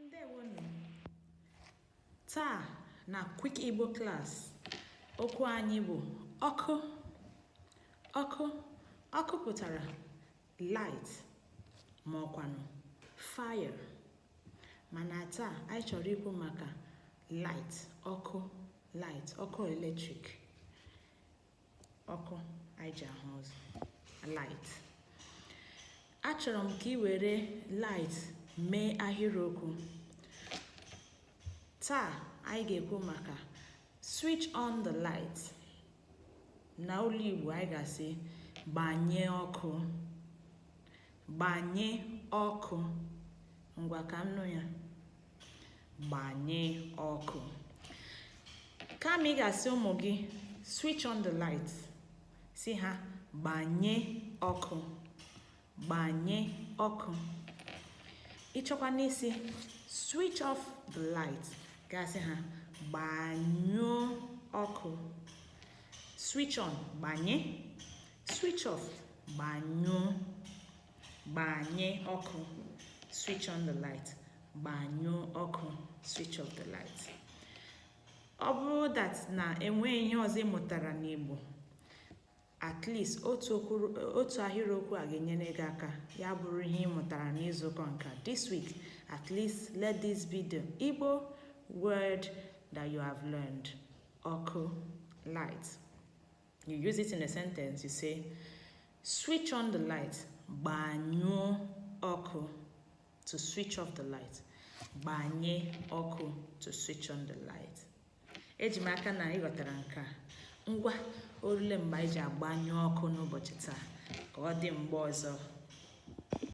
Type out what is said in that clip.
ndewonu taa na quick igbo class okwu anyị bụ ọkụ ọkụ ọkụ pụtara light ma ọkwanụ fire mana taa anyị chọrọ ikwu maka light ọkụ light ọkụ eletrik ọkụ anyị ji ahụ ụzọ light achọrọ m ka ị were light mee ahịrịokwu taa anyị ga-ekwu maka switch on the light na olu igbo anyị ga-asị gbanye ọkụ gbanye ọkụ ngwa ka m nụ ya gbanye ọkụ kama ị ga-asị ụmụ gị switch on the light sị ha gbanye ọkụ gbanye ọkụ ị chọkwanụ ịsị switch off the light gị asị ha gbanyụọ ọkụ switch on gbanye switch off gbanyụọ gbanye ọkụ switch on the light gbanyụọ ọkụ switch off the light ọ bụrụ that na enweghị ihe ọzọ ị mụtara n'Igbo at least otu ahịrịokwu a ga-enyere gị aka ya bụrụ ihe ị mụtara n'izuụka nke a this week at least let this be the Igbo word that you have learned ọkụ light you use it in a sentence you say switch on the light gbanyụọ ọkụ to switch off the light gbanye ọkụ to switch on the light eji m aka na ị ghọtara nke a ngwa o rule mgbe anyị ji agbanyụ ọkụ n'ụbọchị taa ka ọ dị mgbe ọzọ